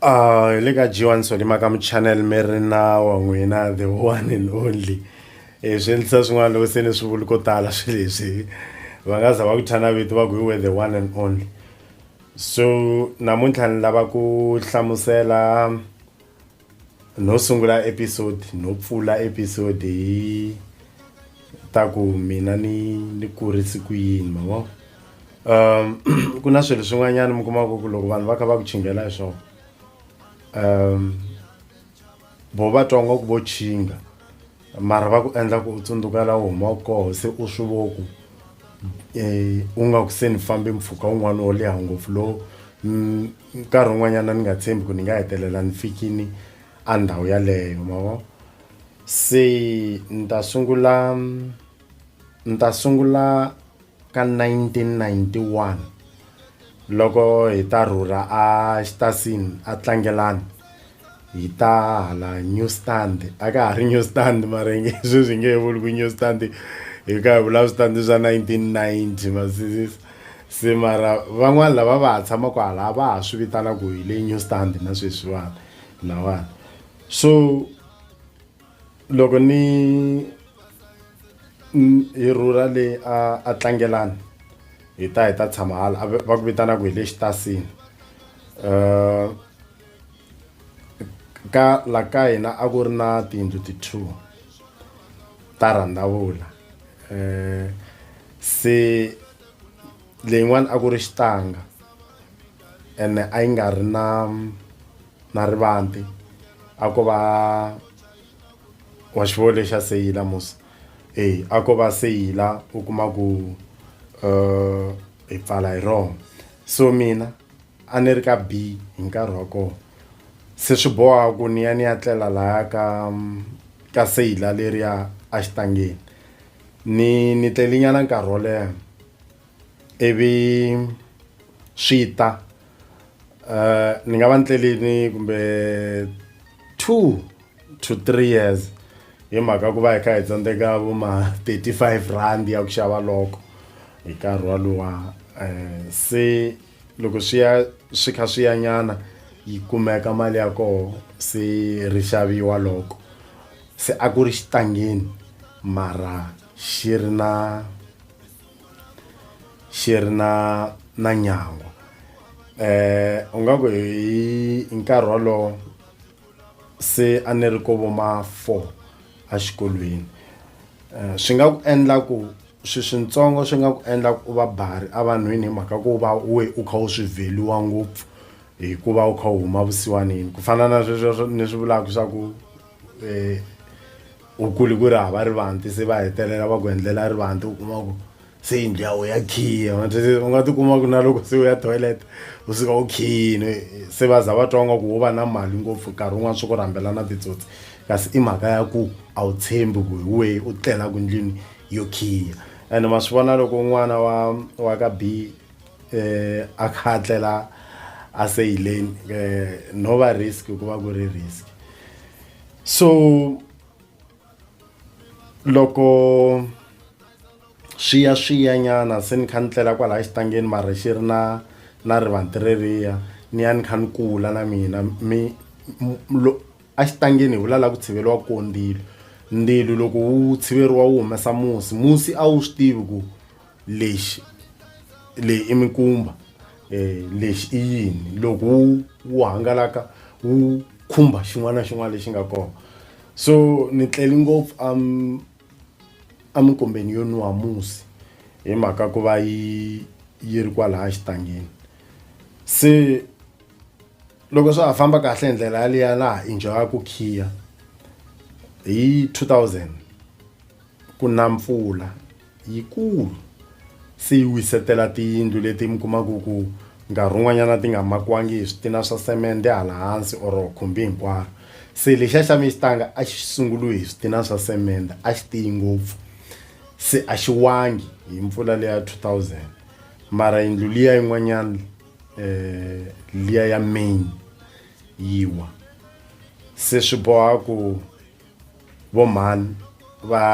hi le ka G1 Solima ka muchannel mi ri na wa n'wina the one and only eh, swi endlisa swin'wana loko se ni swi vuli ko tala swi leswi va nga za va ku thana vito va ku we the one and only so namuntlha ni lava ku hlamusela no sungula episode no pfula episode hi ta ku mina ni ni kurise ku yini mavona um ku na swilo swin'wanyana mi kumaka ku loko vanhu va kha va ku chingela hi swona um vo va twa nga ku vo chinga mara va ku endla ku u tsundzuka la u humaka koho se u swi vo ku um u nga ku se ni fambe mpfhuka wun'wana wo leha ngopfu lowu mm, nkarhi wun'wanyana ni nga tshembi ku ni nga hetelela ni fikini a ndhawu yaleyo mavo se ni ta sungula ni ta sungula ka 1991 loko hi ta rhurha a Xitasin aTlangelani hi ta hala New Stand a ka ha ri New Stand mara hi nge sweswi hi nge he vuli ku New Stand hi ka hi vula switandi swa 1990 ma sizisa se mara van'wani lava va ha tshamaku hala va ha swi vitana ku hi le New Stand na sweswiwani lawani so. loko ni hi rhurha le a a tlangelani hi ta hi ta tshama hala a va ku vitanaka hi le xitasini um ka la ka hina a ku ri na tiyindlu ti-two ta rhandzavula um se leyin'wani a ku ri xitanga ene a yi nga ri na na rivanti a ko va wa xivoho lexi a seyila musa e a ko va seyila u kuma ku um eh, hi pfala hi rona so mina a ni ri ka b hi nkarhi wa kona se swi boha ku ni ya ni ya tlela laya ka ka seyila leriya a xitangeni ni ni tlelinyana nkarhi wo leha ivi swi ta uh, ni nga va ni tlelini kumbe two to three years hi mhaka ku va hi kha hi tsandzeka vo ma 35 rand ya ku xava loko hi nkarhi walowa um se loko swi ya swi kha swi ya nyana yi kumeka mali ya koho se ri xaviwa loko se a ku ri xitangeni mara xi ri na xi ri na na nyangwa u nga ku hi nkarhi wolowo se a ni ri kovo ma four a xikolweni swi nga ku endla ku swi switsongo swi nga ku endla ku va bari a vanhwini hi mhaka ku va we u kha u swi vheliwa ngopfu hikuva u kha u huma vusiwanini ku fana na sweswo ni swi vulaka swa ku . u kuli ku ri hava rivanti se va hetelela va ku endlela rivanti u kuma ku se yindlu ya wena ya khiya u nga tikuma ku na loko se u ya toilet u suka u khiyini se va za va twa nga ku wo va na mali ngopfu nkarhi wun'wana swi ku rhambela na titsotsi kasi i mhaka ya ku a wu tshembi ku hi wehe u tlelaka ndlwini yo khiya and ma swi vona loko n'wana wa wa ka b um eh, a kha a tlela a seyileni um eh, no va risk ku va ku ri risk so loko swi ya swi ya nyana se ni kha ni tlela kwalaya xitangeni mara xi ri na na rivanti reriya ni ya ni kha ni kula na mina mi a xitangeni hi vula la ku tshiveriwa ko ndzilo ndzilo loko wu tshiveriwa wu humesa musi musi a wu swi tivi ku lexi leyi i mikumba eh lexi i yini loko wu wu hangalaka wu khumba xin'wana na xin'wana lexi nga kona so ni tleli ngopfu am eminkombeni yo nwiwa musi hi mhaka ku va yi yi ri kwalaya xitangeni se loko swa ha famba kahle hi ndlela yaliya laha enjoy-aku khiya hi two thousand. Ku na mpfula yikulu se yi wisetela tiyindlu leti mi kumaku ku nkarhi wun'wanyana ti nga makiwangi hi switina swa semende hala hansi or khumbi hinkwaro se lexiya xa mi xitanga a xi sunguliwe hi switina swa semende a xi tiyi ngopfu se a xi wangi hi mpfula leya 2000 mara yindlu liya yin'wanyana um liya ya main yi wa se swi boha ku vo mhani va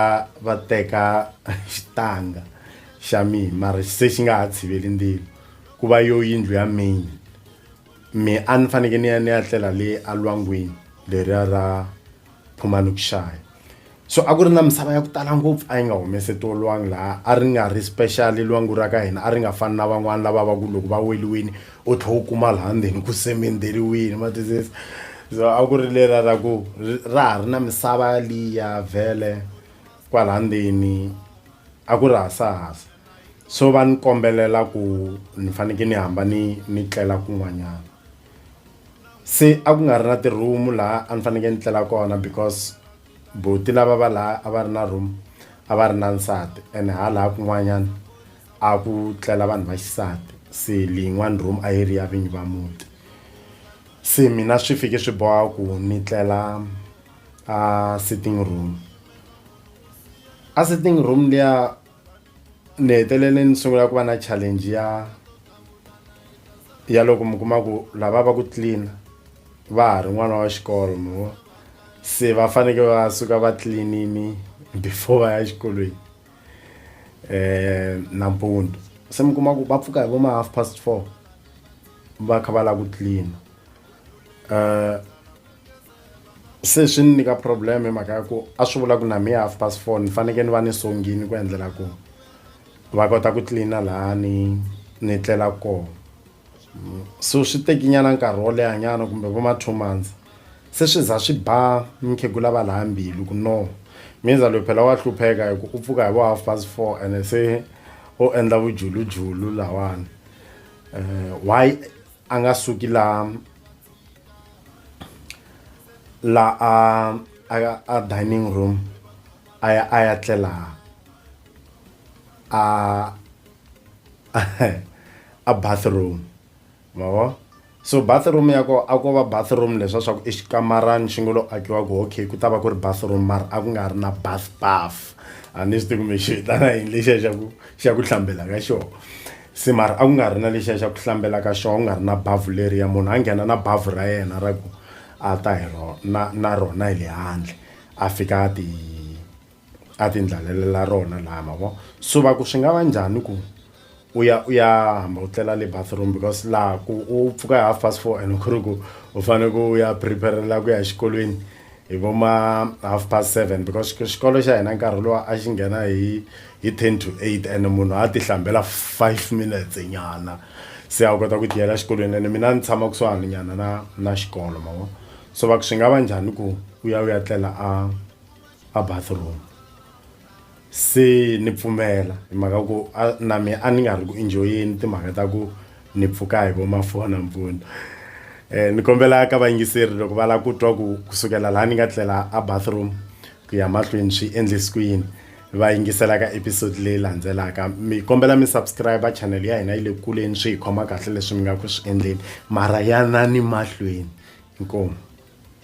va teka xitanga xa mina mara se xi nga ha tshiveli ndzilo ku va yo yindlu ya main me a ni fanekele ni ya ni ya tlela le alwangwini leriya ra phumani ku xaya so a ku ri na misava ya ku tala ngopfu a yi nga humese tolwangi laha a ri nga ri special lwangu ra ka hina a ri nga fani na van'wani lava va ku loko va weliwini U tlhe u kuma laha ndzeni ku semenderiwini ma twisisa so a ku ri lera ra ku ra ha ri na misava liya vhele kwala ndzeni a ku ri hasahasa so va ni kombelela ku ni faneke ni hamba ni ni tlela kun'wanyana se a ku nga ri na ti-room laha a ni faneke ni tlela kona because buti lava va la a va ri na room a va ri na nsati ene ha la kun'wanyana. a ku tlela vanhu va xisati se leyin'wani room a yi ri ya vinyi va muti se mina swi fike swi boha ku ni tlela a sitting room a sitting room liya ni hetelele ni sungula ku va na challenge ya ya loko mi kuma ku lava va ku clean va ha ri n'wana wa xikolo mi vo se va faneke va suka va cleanini before va ya exikolweni. eh nampundu se mi kuma ku va pfuka hi vo ma half past four va kha va lava ku clean eh se swi ni nyika problem hi mhaka ya ku a swi vula ku na mi half past four ni fanekele ni va ni songini ku endlela ku va kota ku clean-a laha ni ni tlelaka kona. so swi tekinyana nkarhi wo lehanyana kumbe vo ma two months se swi za swi ba mukhegula va laha mbilu ku no minza loyi phela wa hlupheka hi ku u pfuka hi vo half past four ene se o endla vujulujulu lawani um why a nga suki la la a a a dining room a ya a ya tlela a a bathroom ma vo so bathroom ya kona a ko va bathroom leswa swa ku i xikamarani xi ngo lo akiwa ku okay ku ta va ku ri bathroom mara a ku nga ri na bath bath a ni swi tivi kumbe xi vitana yini lexiya xa ku xa ku hlambela ka xona se mara a ku nga ri na lexiya xa ku hlambela ka xona ku nga ri na bavhu leriya munhu a nghena na bavhu ra yena ra ku a ta hi rona na rona hi le handle a fika a ti a ti ndlalelela rona laha ma vo so va ku swi nga va njhani ku u ya u ya hamba u tlela le bathroom because laha ku u pfuka hi half past four and ku ri ku u fanele ku u ya preparela ku ya exikolweni hi vo ma half past seven because xikolo xa hina nkarhi lowa a xi nghena hi hi ten to eight and munhu a ti hlambela five minutes nyana se a wu kota ku tiyela xikolweni ene mina ni tshama kusuhani nyana na na xikolo ma vo so va ku swi nga va njhani ku u ya u ya tlela a a bathroom se ni pfumela hi mhaka ku na mi a ni nga ri ku enjoyeni timhaka ta ku ni pfuka hi vomafona mpfuno um ni kombela ka vayingiseri loko va lava ku twa ku kusukela laha ni nga tlela a bathroom ku ya mahlweni swi endlisi ku yini va yingisela ka episode leyi landzelaka mi kombela mi subscribe channel ya hina yi le kuleni swi hi khoma kahle leswi mi nga ku swi endleni mara ya na ni mahlweni inkomu